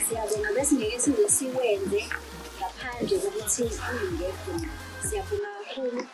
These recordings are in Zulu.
siyabonga besingeke size siwenze ngaphandle kokuthi kuyingekho siyabonga kakhulu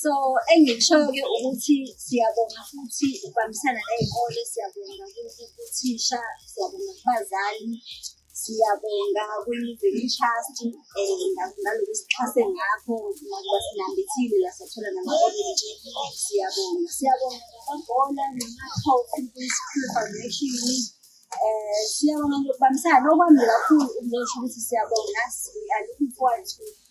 so engikushoyo-ke ukuthi siyabonga futhi ukubambisana ney'kole siyabonga kuthisha siyabonga kubazali siyabonga kwi-living trust um eh, ngalokhu sixhase ngakho nakuba sinambithile la sathola nama-orange siyabonga siyabonga ngamabhola nama-coke kwi-school foundation um siyabonga nokubambisana okwami kakhulu ukulosho ukuthi siyabonga we are looking forward to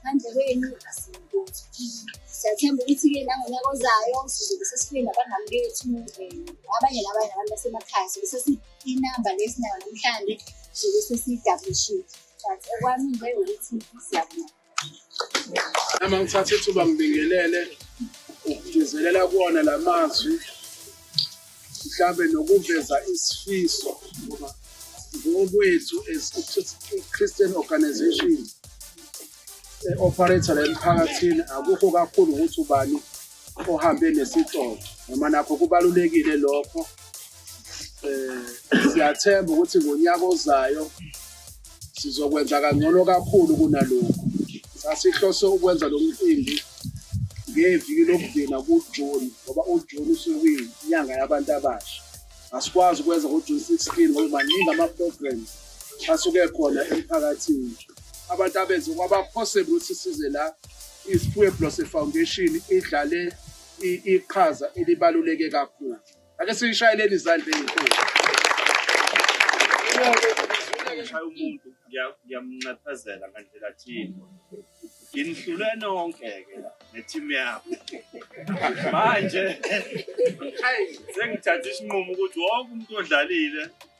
ngaphandle kwenu asinkothi siyathemba ukuthi-ke nangonyaka ozayo sizobe sesifike nabangani bethu abanye nabanye nabantu basemakhaya sobe sesiinamba le sinayo namhlanje sobe sesiyidablishile but okwami nje ukuthi siyabona nami ngithatha ithuba ngibingelele ukugcizelela kuwona la mazwi mhlawumbe nokuveza isifiso ngoba ngokwethu as christian organization e-operator la emphakathini akukho kakhulu ukuthi ubani ohambe nesitolo noma nakho kubalulekile lokho um siyathemba ukuthi ngonyaka ozayo sizokwenza kangcono kakhulu kunalokhu. Sasihlose ukwenza lo mcimbi ngeviki lokugcina kuJuni ngoba uJuni usuke kuyinyanga yabantu abasha. Asikwazi ukwenza ngoJuni 16 ngoba maningi ama-programs asuke ekhona emphakathini. Abantu abenze kwaba possible ukuthi size la iSiphiwe Blose Foundation idlale iqhaza elibaluleke kakhulu. Ake siyishayeleni izandla ezinkulu. Ngishaya umuntu ngiyamnxephezela ngandlela thini. Nginihlule nonke ke la ne-team yami. Manje sengithathe isinqumo ukuthi wonke umuntu odlalile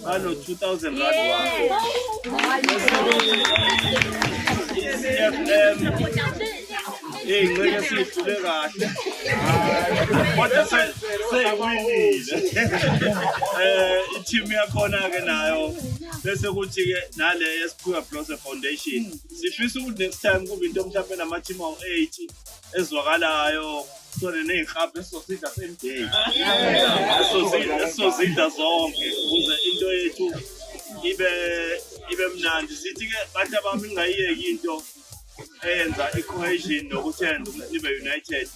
Bano 2000 rand Hey, ngeke siyidlule kahle. Kodwa seyiwinile. Eh, i-team yakhona ke nayo bese kuthi ke nale yesiphiwa Blose Foundation. Sifisa ukuthi next time kube into mhlawumbe nama-team awu-80 ezwakalayo sone ney'nhlapha esizozidla same day esizozidla zonke ukuze into yethu ibe ibe mnandi sithi-ke bantu abami ingayiyeki into eyenza i-cohesion nokuthi yenza ukuthi nibe united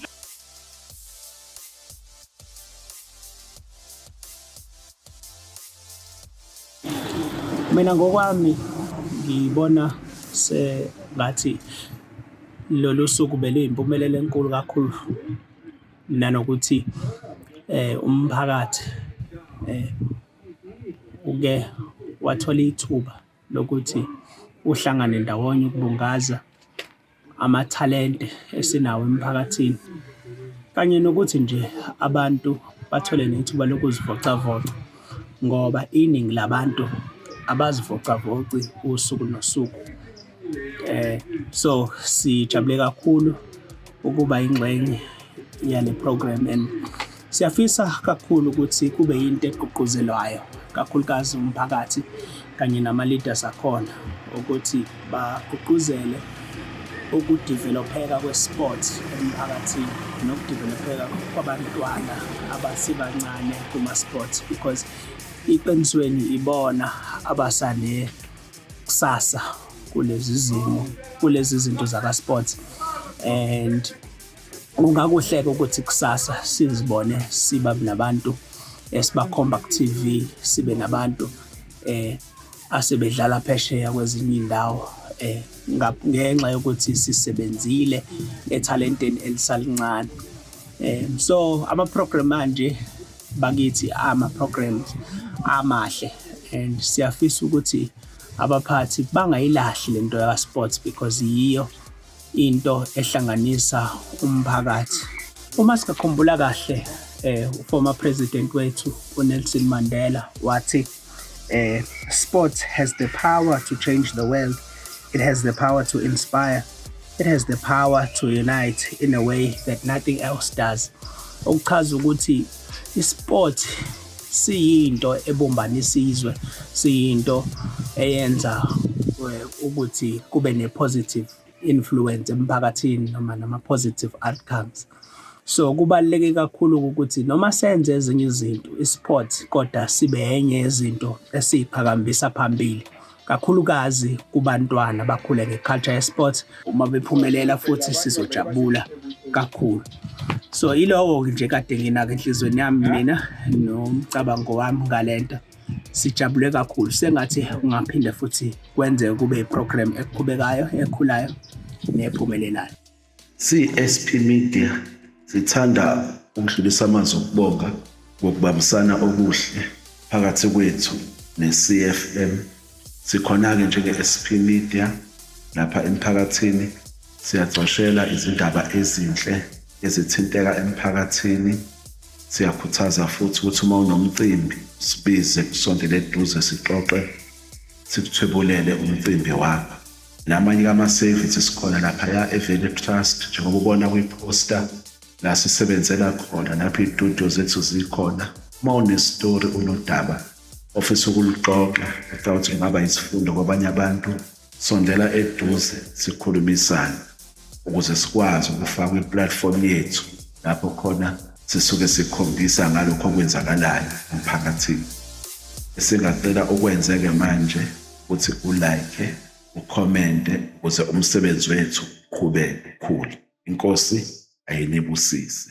Mina ngokwami ngibona sengathi lolu suku beluyimpumelelo enkulu kakhulu nanokuthi umphakathi uke wathola ithuba lokuthi uhlangane ndawonye ukubungaza amathalente esinawo emphakathini kanye nokuthi nje abantu bathole nethuba lokuzivocavoca ngoba iningi labantu abazivocavoci usuku nosuku. So sijabule kakhulu ukuba yingxenye yale program and. Siyafisa kakhulu ukuthi kube yinto egqugquzelwayo kakhulukazi umphakathi kanye nama-leaders akhona ukuthi bagqugquzele ukudevelopheka kwesport emphakathini nokudevelopheka kwabantwana abasebancane kuma-sports because iqinisweni ibona abasane kusasa kulezi zimo kulezi zinto zaka-sports and kungakuhleka ukuthi kusasa sizibone siba nabantu esibakhomba ku-TV sibe nabantu eh asebedlala phesheya kwezinye indawo eh ngenxa yokuthi sisebenzile ethalenteni elisalincane eh so ama program manje bakithi ama programs amahle and siyafisa ukuthi abaphathi bangayilahli lento ya sports because yiyo into ehlanganisa umphakathi uma singakhumbula kahle eh former president wethu uNelson Mandela wathi eh sports has the power to change the world it has the power to inspire it has the power to unite in a way that nothing else does okuchaza ukuthi isport siyinto ebumbanisa izwe siyinto eyenza eh, ukuthi kube ne-positive influence emphakathini noma nama-positive outcomes so kubaluleke kakhulu ukuthi noma senze ezinye izinto i-sport kodwa sibe enye yezinto esiyiqhakambisa phambili kakhulukazi kubantwana bakhule ngeculture yesports uma bephumelela futhi sizojabula kakhulu so ilowo nje kade nginake enhlizweni yami mina nomcabango wami ngalento sijabule kakhulu sengathi ungaphinde futhi kwenzeke kube iprogram eqhubekayo ekhulayo nephumelelayo CSP Media sithanda ukudlulisa amazwi okubonga ngokubambisana okuhle phakathi kwethu ne-CFM. Sikhona-ke njenge-SP Media lapha emphakathini siyagcoshela izindaba ezinhle ezithinteka emphakathini. Siyakhuthaza futhi ukuthi uma unomcimbi sibize kusondele eduze sixoxe sikuthwebulele umcimbi wakho. namanye kama-service sikhona laphaya eValley Trust njengoba ubona kwi-poster la sisebenzela khona lapho iy'tudio zethu zikhona uma unestori unodaba ofisa ukuluxoxa ecawuthi kungaba yisifundo kwabanye abantu sondela eduze sikhulumisane ukuze sikwazi ukufaka i-platform yethu lapho khona sisuke sikhombisa ngalokho okwenzakalayo emphakathini esingacela ukwenzeke manje ukuthi ulike ukhomente ukuze umsebenzi wethu uqhubeke ukhule inkosi ayinibusise